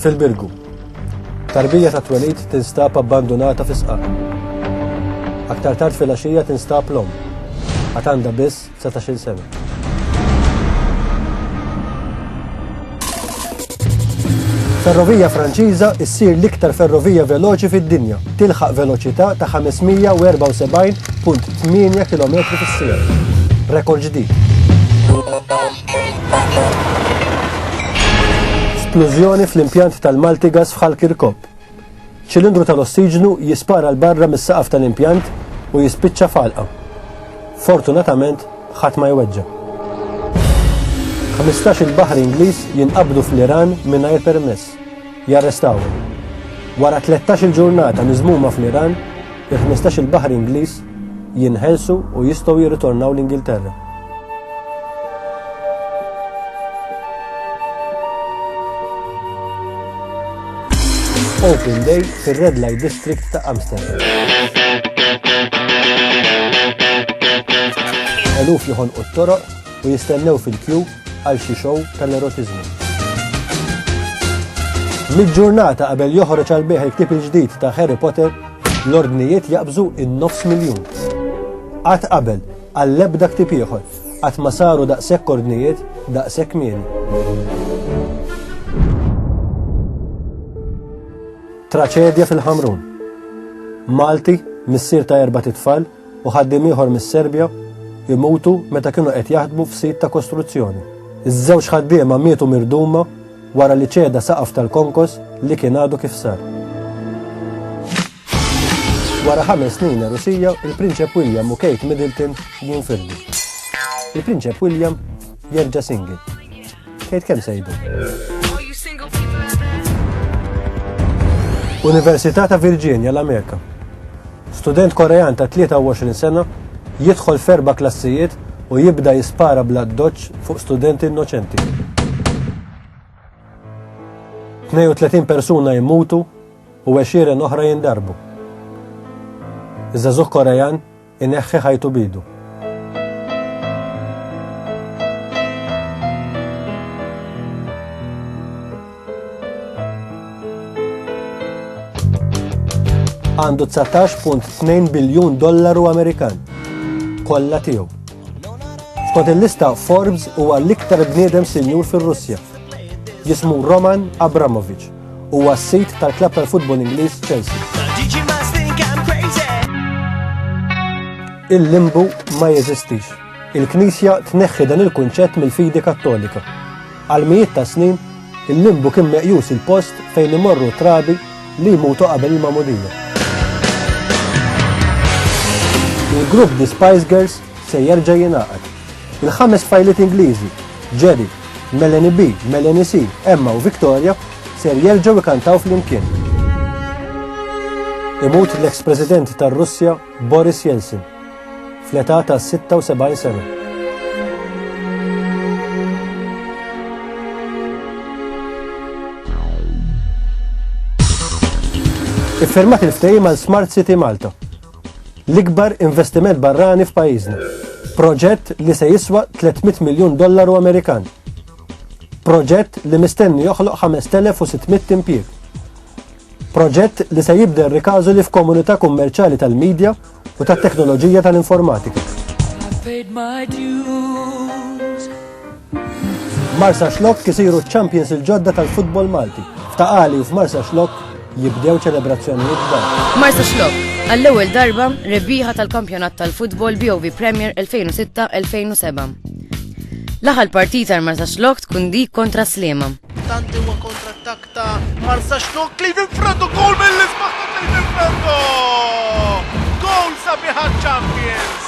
fil-Birgu. Tarbija ta' twelid tinstab abbandunata fi sqaq. Aktar tard fil-axija tinstab l-om. Għatanda biss dsatax-il sena. Ferrovija Franċiża ssir l-iktar ferrovija veloċi fid-dinja, tilħaq veloċità ta' 574.8 km fis-sija. Rekord ġdid. Splużjoni fl-impjant tal-Maltigas f'Ħal Kirkop. Ċilindru tal-ossiġnu jispara 'l barra mis-saqaf tal-impjant u jispiċċa f'għalqa. Fortunatament ħadd ma jweġġa'. Ħmistax-il baħri Ingliż jinqabdu fl-Iran mingħajr permess. Jarrestawhom. Wara tlettax-il ġurnata miżmuma fl-Iran, il-ħmistax-il baħri Ingliż jinħelsu u jistgħu jirritornaw l-Ingilterra. Open Day fir-Red Light District ta' Amsterdam. Eluf joħon u t-toroq u jistennew fil-kju għal xi xow tal-erotizmu. Mid-ġurnata qabel joħroġ għal beħ il-ktib il-ġdid ta' Harry Potter, l-ordnijiet jaqbżu in-nofs miljun. Għad qabel, Għall-ebda ktieb ieħor qatt ma saru daqshekk ordnijiet daqshekk kmieni. Traċedja fil-Ħamrun. Malti, missier ta' erbat itfal u ħaddiem ieħor mis-Serbja imutu meta kienu qed jaħdmu f'sit ta' kostruzzjoni. Iż-żewġ ħaddiema mietu mirduma wara li ċeda saqaf tal-konkos li kien għadu kif sar. Wara ħames snin erusija, il-Prinċep William u Kate Middleton jinfirdu. Il-Prinċep William jerġa' single. Kate kemm sejdu? Università ta' Virginia l-Amerika. Student Korean ta' 23 sena jidħol ferba klassijiet u jibda jispara bla doċ fuq studenti innoċenti. 32 persuna jimmutu u għexieren oħra jindarbu. Iż-żagħżugħ Korean ineħħi ħajtu b'idu. għandu 19.2 biljun dollaru Amerikan. Kolla tiegħu. Skont il-lista Forbes huwa l-iktar bniedem sinjur fir-Russja. Jismu Roman Abramovich. huwa s-sit tal-klabb tal-futbol Ingliż Chelsea. Il-limbu ma jeżistix. Il-Knisja tneħħi dan il-kunċett mill-fidi Kattolika. Għal mijiet ta' snin, il-limbu kien meqjus il-post fejn imorru trabi li jmutu qabel il-mamudija. Il-grupp The Spice Girls se jerġa' jingħaqad. Il-ħames fajliet Ingliżi, Jerry, Melanie B, Melanie C, Emma u Victoria, ser jerġgħu ikantaw flimkien. Imut l-eks President tar-Russja Boris Yeltsin fl-età ta' 76 sena. Iffermat il-ftehim għal Smart City Malta L-ikbar investiment barrani f'pajjiżna. Proġett li se jiswa 300 miljun dollaru Amerikan. Proġett li mistenni joħloq 5,600 impjieg. Proġett li se jibdel rikażu li f'komunità kummerċali tal-medja u tat-teknoloġija tal-informatika. Marsa Xlokk isiru ċ-champions il-ġodda tal-futbol Malti. F'Taqali u f'Marsa Xlokk jibdew ċelebrazzjonijiet kbar. Marsa Xlokk, għall-ewwel darba rebbieħa tal-kampjonat tal-futbol BOV Premier 2006-2007. L-aħħar partita għal Marsa Xlokk tkun dik kontra Slima. Tanti huwa kontra attak ta' Marsa Xlokk li Franco gol mill-isbaħ ta' Franco! Gol sabiħa champions!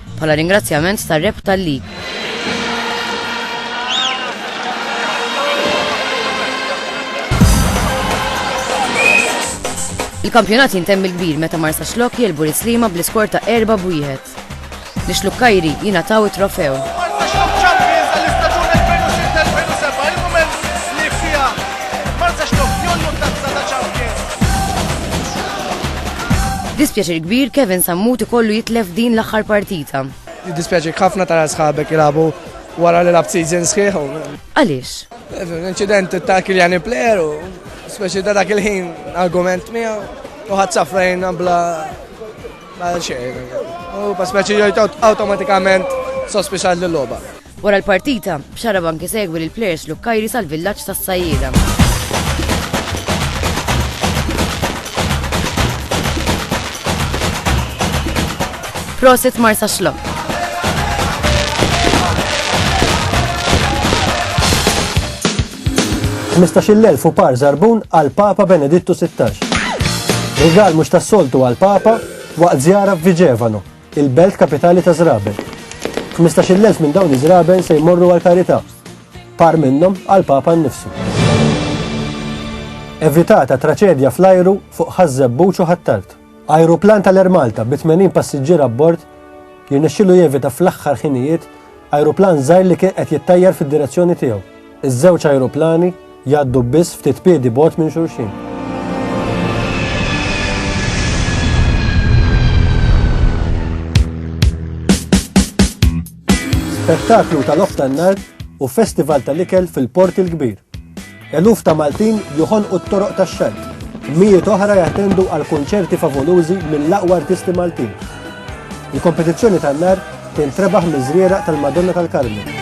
bħala ringrazzjament tar-rebħta li. Il-kampjonat jintemm il-kbir meta Marsa Xlok jelbu l-Islima bl-iskor ta' erba' b'wieħed. Li Xlukkajri jingħataw it-trofew. Dispjaċir kbir Kevin Sammut ikollu jitlef din l-aħħar partita. Jiddispjaċik ħafna tara sħabek jilagħbu wara li labt season sħiħ. Għaliex? Incident ta' Kiljani player u speċi ta' dak il-ħin argument miegħu u ħadd safrajn bla bla xejn. U pa speċi automatikament sospiċat l-logħba. Wara l-partita, Xarab anke segwi lill-plejers Lukkajri sal-villaġġ tas-Sajjieda. Prosit Marsa Xlok. Mistaxil elf u par zarbun għal Papa Benedittu 16. Rigal mux tas-soltu għal Papa waqt zjara f'Viġevano. il-belt kapitali ta' żraben. Ħmistax-il elf minn dawn iż-żraben se jmorru għall-karità, par minnhom għall-Papa nnifsu. Evitata traċedja fl-ajru fuq Ħaż-Żebbuġ u Ħ'Attard. Ajruplan tal-Air Malta bi 80 passiġġier abbord jirnexxielu jevita fl-aħħar ħinijiet ajruplan żgħir li kien qed jittajjar fid-direzzjoni tiegħu. Iż-żewġ ajruplani jgħaddu biss ftit piedi bogħod minn xulxin. Spettaklu tal-off tan-nar u festival tal-ikel fil-Port il-Kbir. Eluf ta' Maltin joħonqu t-toroq tax-xalt mijiet oħra jattendu għal konċerti favolużi mill-aqwa artisti Maltin. Il-kompetizzjoni tan-nar Tintrebaħ miż-żrieraq tal-Madonna tal-Karmnu.